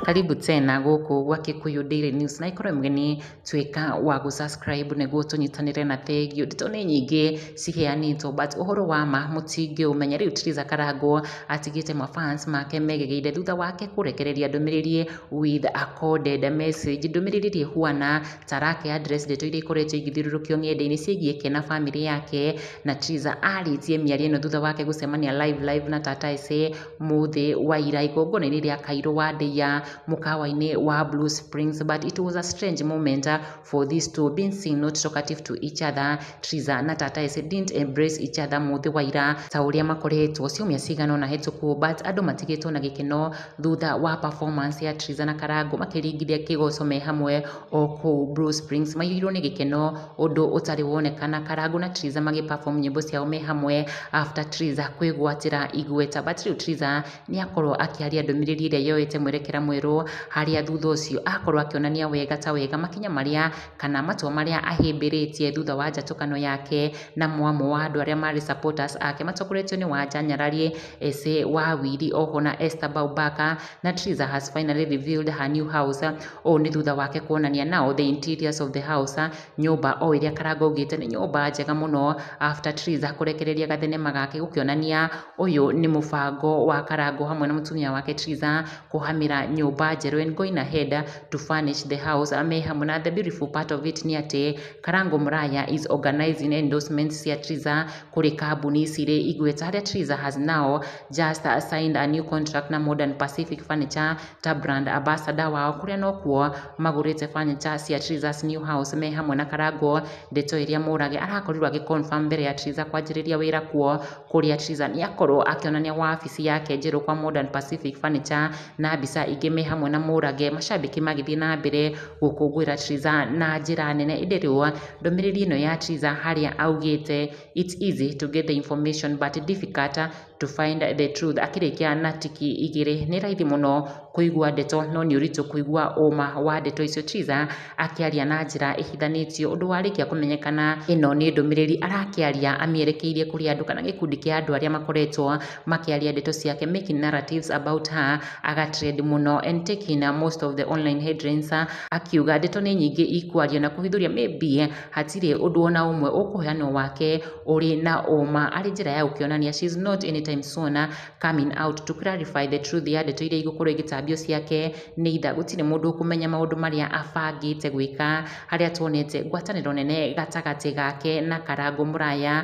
karibu tena gũkũ gwa Kikuyu Daily News na ikorwo mgeni tuĩka wa gũ subscribe nĩguo tũnyitanĩre na thengio nditũ nĩ nyingĩ ciheanĩtwo but ũhoro wa ma mũtingĩũmenya rĩu Theresa Karangũ atigĩte ma fans make megegeire thutha wake kũrekereria ndũmĩrĩri with a coded message ndũmĩrĩri ĩrĩa ĩhuana Sarah Keandre, ndeto iria ikoretwo igĩthiũrũrũkio ng'enda-inĩ ciĩgiĩ Ken na famĩlĩ yake, na Triza aarĩtie mĩario ĩno thutha wake gũcemania Live Live na Tata Esse mũthĩ wa ira igongona-inĩ rĩa Kairũ wa Ndeiya mũkawa-inĩ wa Blue Springs but it was a strange moment for these two being seen not talkative to each other, Triza na Tata Esse didn't embrace each other mũthĩ wa ira ta ũrĩa makoretwo ciumia cigana ũna hĩtũku but andũ matigĩtwo na gĩkeno thutha wa performance ya Triza na Karango makĩringithia kĩgoco me hamwe o kũu Blue Springs. Maiyũirwo nĩ gĩkeno ũndũ ũtarĩ wonekana. Karango na Triza magĩ perform nyĩmbo ciao me hamwe after Triza kwĩgwatĩra igweta. But rĩu Triza nĩ akorwo akĩaria ndũmĩrĩri ĩrĩa yoete mwerekera mwerũ harĩa thutha ũcio akorwo akĩonania wega ta wega makinya marĩa kana matua marĩa ahĩmbĩrĩtie thutha wa njatũkano yake na mwamũ wa andũ arĩa marĩ supporters ake matongoretio nĩ Wanja Nyarari Ese Wawiri oho na Esther Baubaka na Triza has finally revealed her new house ũũ nĩ thutha wake kuonania nao the interiors of the house nyũmba o ĩrĩa Karanga augĩte nĩ nyũmba njega mũno after Triza kũrekereria gathenema gake gũkĩonania ũyũ nĩ mũbango wa Karanga hamwe na mũtumia wake Triza kũhamĩra nyũmba njerũ and going ahead to furnish the house me hamwe na the beautiful part of it nĩ atĩ Karanga Mũraya is organizing endorsements cia Triza kũrĩ kambuni ici irĩ igweta harĩa Theresa has now just signed a new contract na Modern Pacific Furniture ta brand ambassador wao kũrĩa no kuo magũrĩte furniture cia Theresa's new house me hamwe na Karango, ndeto ĩrĩa Murage arakorirwo agĩ confirm mbere ya Theresa kwanjĩrĩria wĩra kuo kũrĩa Theresa nĩ akorwo akĩonania wabici yake njerũ kwa Modern Pacific Furniture. na mbica ingĩ me hamwe na Mũrage, macambĩki magĩthiĩ na mbere gũkũngũĩra Triza na njĩra nene. Ĩndĩ rĩu ndũmĩrĩri ĩno ya Triza harĩa augĩte it's easy to get the information but difficult to find the truth akĩrĩkia na tiki igĩrĩ. Nĩ raithi mũno kũigua ndeto no nĩ ũritũ kũigua ũma wa ndeto icio. Triza akĩaria na njĩra ĩhithanĩtio ũndũ warĩkia kũmenyekana ĩno nĩ ndũmĩrĩri arakĩaria amĩerekeirie kũrĩ andũ kana gĩkundi kĩa andũ arĩa makoretwo makĩaria ndeto ciake making narratives about her aga trend mũno and taking most of the online headlines akiuga ndeto nĩ nyingĩ ikwario na kũhithũria maybe hatirĩ ũndũ ona ũmwe ũkũheanwo wake ũrĩ na ũma arĩ njĩra ya gũkĩonania she is not anytime soon coming out to clarify the truth ya ndeto iria igũkorwo igĩtambio ciake nĩ itha gũtirĩ mũndũ ũkũmenya maũndũ marĩa abangĩte gwĩka harĩa tuonete ngwatanĩro nene gatagatĩ gake na Karangũ Mũraya